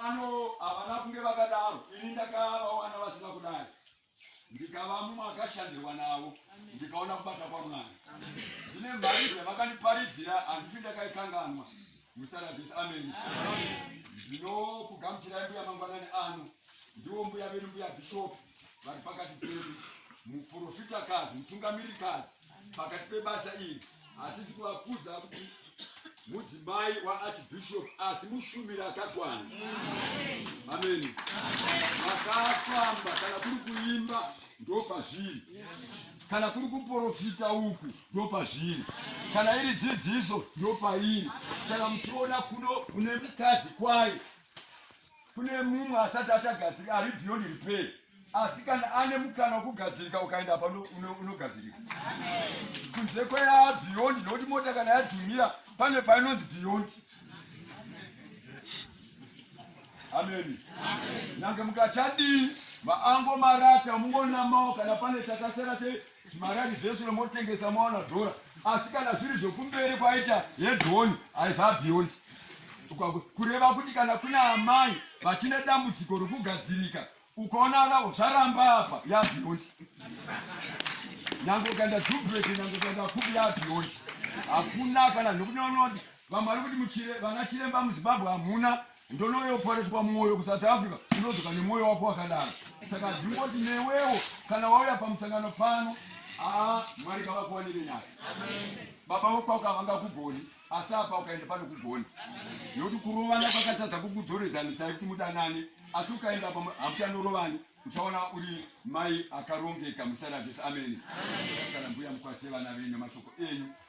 Ano havana kunge vakadaro, ini ndakavawana vasina kudai, ndikava mumwe akashandirwa navo, ndikaona kubata kwaMwari. Zvine mhari zvavakandiparidzira handifi ndakaikanganwa. Musaradhisi, ameni. Ndinokugamuchirai mbuya mangwanani ano, ndiwo mbuya vedu, mbuya bhishopu vari pakati pedu, muprofitakadzi, mutungamirikadzi pakati pebasa iri hatisi kuvakudza kuti mudzimai waarchbishop asi mushumiri akakwana ameni vakafamba kana kuri kuimba ndopazviri kana kuri kuprofita uku ndopazviri kana iri dzidziso ndopairi kana muchiona kuno kune mukadzi kwayo kune mumwe asati achagadzirika ari beyond repair asi kana ane mukana wokugadzirika ukaenda apa unogadzirika kunze kweyaa beyond nokuti mota kana yadhumira pane painonzi beyond ameni nange mukachadii maango marata mungonamawo kana pane chakasera Maradi zvese nomotengesa mawana dhora asi kana zviri zvokumberi kwaita hedhoni haizabhiyondi kureva kuti kana kuna amai vachine dambudziko rokugadzirika ukaona ravo zvaramba apa yabhiyondi nyange ukaenda jubreki nyange ukaenda kubi yabhiyondi hakuna kana nokunoona kuti vamwari kuti vana chiremba muzimbabwe hamuna ndonoyo pari twa moyo ku south africa unozoka ne moyo wako wakadaro saka ndingoti newewo kana wauya pamusangano pano aa mwari kavakuwanire nyaya baba vokwako havanga kugoni asi apa ukaenda pano kugoni nokuti kurovana kwakatadza kukudzoredzanisa yekuti mudanane asi ukaenda apa hamuchanorovani uchaona uri mai akarongeka musarajesi amene kana mbuya mukwasire vana venyu mashoko enyu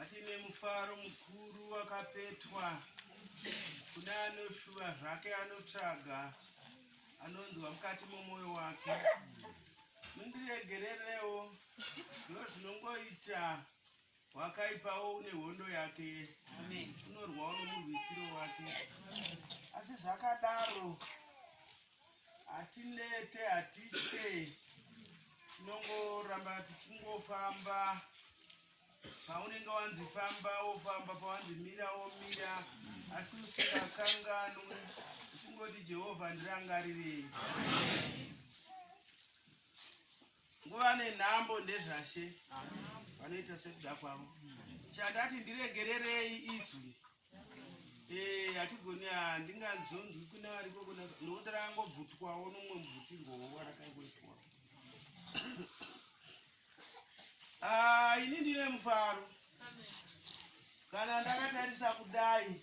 Atine mufaro mukuru wakapetwa kune anoshuva zvake anotsvaga anonzwa mukati momwoyo wake mundiregererewo zvo zvinongoita wakaipawo une hondo yake unorwawo nomurwisiro wake asi zvakadaro hatinete hatitye tinongoramba tichingofamba paunenge wanzi famba wofamba pawanzi mira womira asi usikakanganwi uchingoti jehovha ndirangarirei nguva nenhambo ndezvashe vanoita sekuda kwavo chandati ndiregererei izwi Eh, hatigoni ah, ndingadzonzwi kune variko kuna nokuti rangobvutwawo nomwe mubvutirwowo rakaingoitwa ah, ini ndine mufaro kana ndakatarisa kudai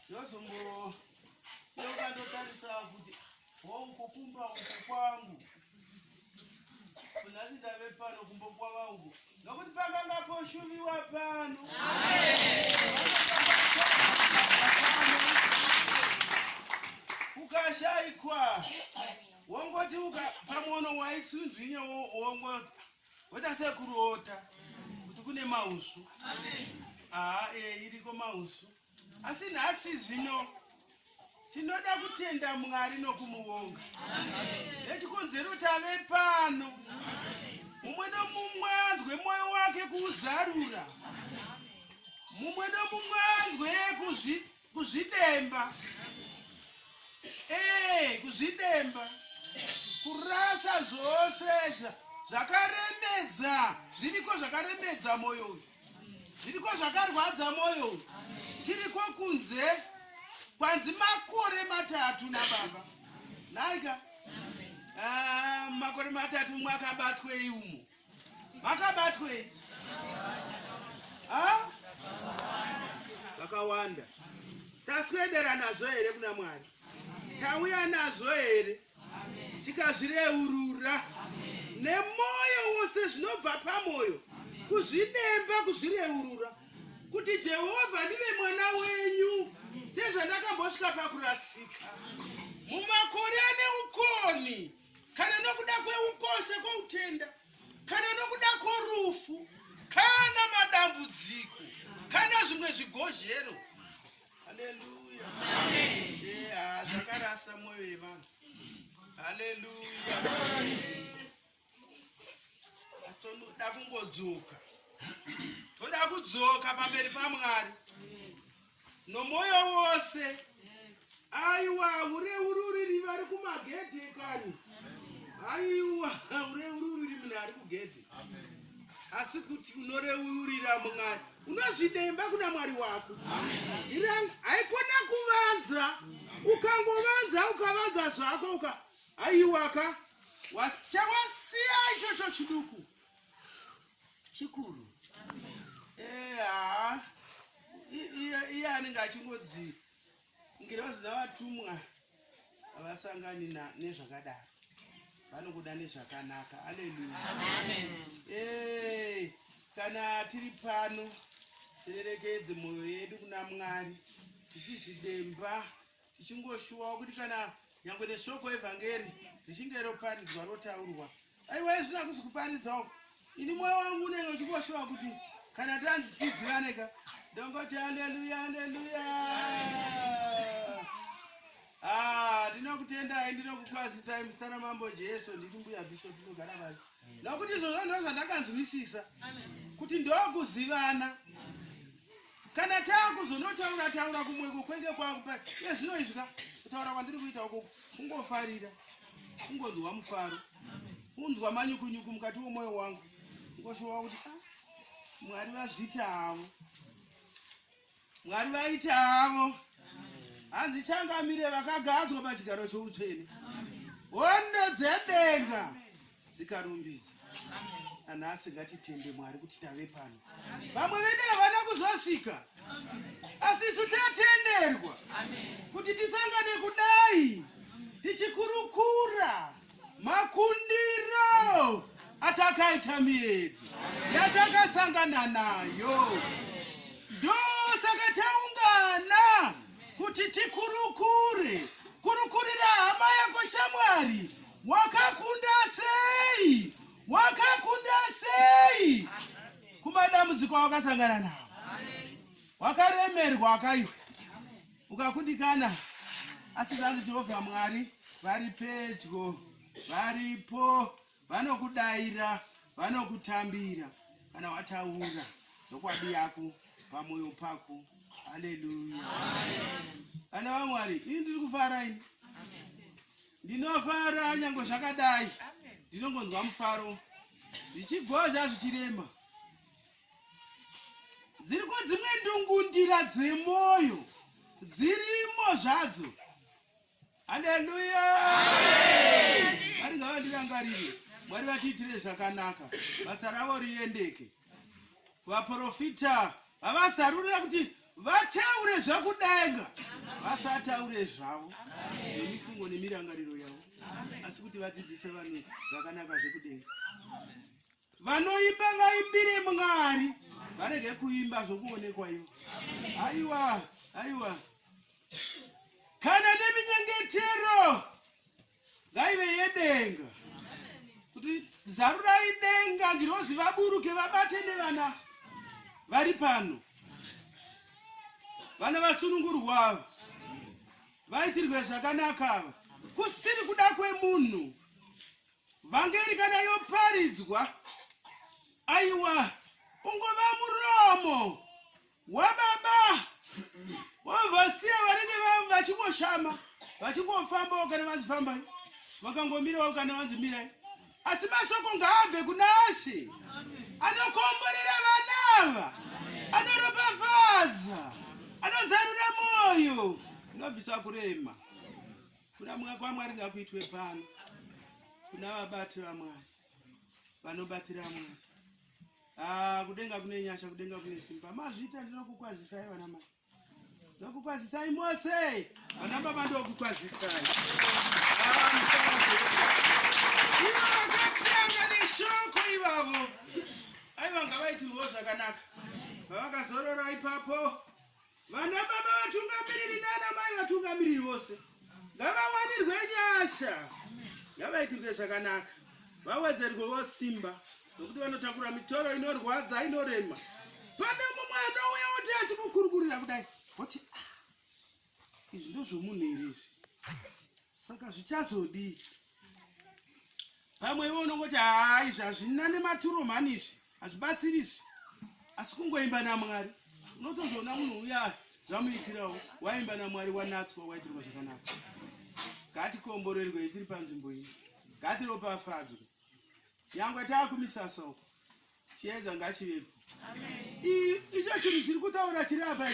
ndozombo ndokandotarisa kuti Wauko kumba uko kwangu. Kunasi ndave pano kumba kwa vangu. Nokuti panga ngapo shuviwa pano. Ukashaikwa. Wongoti uka pamono waitsunzwinya wongoti. Wota sekurota. Kuti kune mausu. Amen. Ah, eh iriko mausu. asi nhasi zvino tinoda kutenda mwari nokumuvonga nechikonzero tave pano mumwe nomumwe anzwe mwoyo wake kuuzarura mumwe nomumwe anzwe kuzvidemba ee kuzvidemba kurasa zvose zvakaremedza zviriko zvakaremedza mwoyo uyu zviriko zvakarwadza moyo tiriko kunze kwanzi makore matatu nababa naika ah, makore matatu mwakabatwei umo makabatwei ah? vakawanda taswedera nazvo here kuna mwari tauya nazvo here tikazvireurura nemwoyo wose zvinobva pamwoyo kuzvidemba kuzvireurura kuti jehovha ndive mwana wenyu sezvandakambosvika pakurasika mumakore ane ukoni kana nokuda kweukoshe kwoutenda kana nokuda kworufu kana madambudziko kana zvimwe zvigozhero Haleluya. Amen. Yeah, zvakarasa moyo yevanhu. Haleluya. Asi toda kungodzoka. Toda kudzoka pamberi paMwari. Nomoyo wose. Aiwa, hure ururiri vari kumagedhe kani. Aiwa, hure ururiri munhu ari kugedhe. Asi kuti unoreurira Mwari. unozvidemba kuna mwari wako iranga haikona kuvanza ukangovanza ukavanza zvako uka aiwaka chawasiya ichocho chiduku chikuru eha iye anenge achingodzi ngirozi dzavatumwa havasangani nezvakadaro vanokuda nezvakanaka aleluya eh, kana tiri pano tirerekedze mwoyo yedu kuna mwari tichizvidemba tichingoshuwawo kuti kana nyange neshoko evhangeri richinge roparidzwa rotaurwa aiwa izvino akusi kuparidza uko ini mwoyo wangu unenge uchingoshuva kuti kana tanzi tizivane ka ndongoti aleluya aleluya ah, ndinokutendai ndinokukwazisai musitana mambo jesu nditi mbuya bishop ndinogara vasi nokuti izvozvo ndo zvandakanzwisisa kuti ndokuzivana kana taakuzonotaura taura kumwe kukwenge kwakupa iye zvino izvi ka kutaura kwandiri kuita ukoko kungofarira kungonzwa mufaro kunzwa manyukunyuku mukati wemwoyo wangu ngoshowa kuti ah, mwari vazviti havo mwari vaiti havo hanzi changamire vakagadzwa pachigaro choutsvene hondo dzedenga dzikarumbidza nanhasi ngatitende mwari kuti tave pano vamwe vedu havana kuzosvika asi isu tatenderwa kuti tisangane kudai tichikurukura makundiro atakaita miedzi yatakasangana nayo ndosaka taungana kuti tikurukure kurukurira hama yako shamwari Wakakunda sei? Wakakunda sei? Kumadambudziko awakasangana nawo. Wakaremerwa wakaiwa. Ukakundikana asi zvanzi Jehovha Mwari vari pedyo, varipo, vanokudaira, vanokutambira kana wataura nokwadi yako pamoyo pako. Haleluya. Vana vaMwari, ini ndiri kufara ini. Ndinofara nyange zvakadai. Ndinongonzwa mufaro. Ndichigozha zvichirema. Ziriko dzimwe ndungundira dzemoyo. Zirimo zvadzo. Haleluya. Mwari ngavandirangarire. Mwari vatiitire zvakanaka. Basa ravo riendeke. vaprofita vavasarurira kuti vataure zvakudenga vasataure zvavo nemifungo nemirangariro yavo asi kuti vadzidzise vanhu zvakanaka zvekudenga vanoimba vaimbire mwari varege kuimba zvokuonekwa ivo aiwa aiwa kana neminyengetero ngaive yedenga kuti zarurai denga ngirozi vaburuke vabate nevana vari pano vana vasunungurwa ava vaitirwe zvakanaka ava kusiri kuda kwemunhu vhangeri kana yoparidzwa aiwa ungova muromo wababa wavasiya vanenge vachingoshama vachingofambawo kana vanzi fambai vakangomirawo kana vanzi mirai asi mashoko ngaabve kuna asi anokomborera vanava anoropafadza anozarura mwoyo anobvisa kurema kuna mwa kwamwari ngakuitwe pano kuna vabati vamwari vanobatira mwari Ah, kudenga kune nyasha kudenga kune simba mazvita ndinokukwazisai vana mai ndokukwazisai mose vana baba ndokukwazisai ivo vakatanga neshoko ivavo aivanga vaitirwo zvakanaka vavakazorora ipapo Vana baba vatungamiriri nana mai vatungamiriri vose ngavawanirwe nyasha ngavaitirwe zvakanaka vawedzerwewo simba nokuti vanotakura mitoro inorwadza inorema pane mumwe anouya oti achikukurukurira kudai oti ah, izvi ndozvomunhu here izvi saka zvichazodii pamwe ivo unongoti haa izvi hazvina nematuro mhani izvi hazvibatsiri izvi asi kungoimba namwari unotozoona munhu uya zvamuitirawo waimba namwari wanatswa waitirwa zvakanaka ngatikomborerwei tiri panzvimbo iyi ngatiropafadzwe nyangwe taakumisasa uko chiedza ngachivepo icho chinhu chiri kutaura chiri apa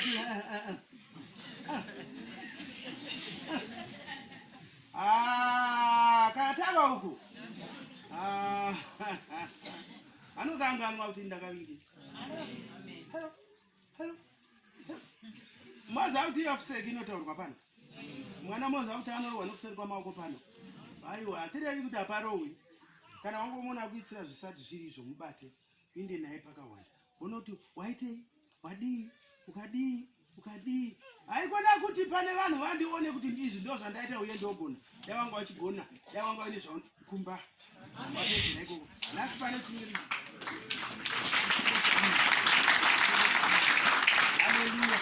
Ah, katava uku ah, anokanganwa kuti ndakaviri maza kuti yafuseki inotaurwa pano mwana moza kuti anorowa nokuseri kwamaoko pano aiwa hatirevi kuti haparowi kana wangomona kuitira zvisati zviri izvo mubate uinde naye pakawanda unoti waitei wadii ukadii ukadii haikona kuti pane vanhu vandione kuti ndizvi ndo zvandaita uye ndogona dai wanga wachigona dai wanga waine zvakumba waeaikoko nhasi pane chimiri aleluya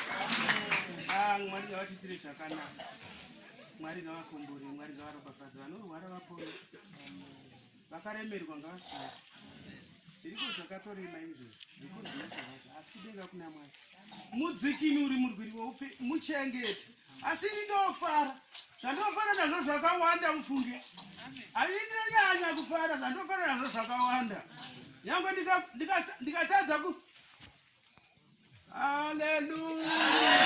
ah, mwari ngavatiitire zvakanaka mwari ngavakombore mwari ngavaropafadza vanorwara vapona vakaremerwa ngavasvaa zviriko zvakatorema izvo asi kudenga kuna mwari mudzikini uri murwiri weupe muchengete asi ini ndofara zvandinofara nazvo zvakawanda mufunge asi ndinonyanya kufara zvandinofara nazvo zvakawanda nyange ndikatadza ku Hallelujah.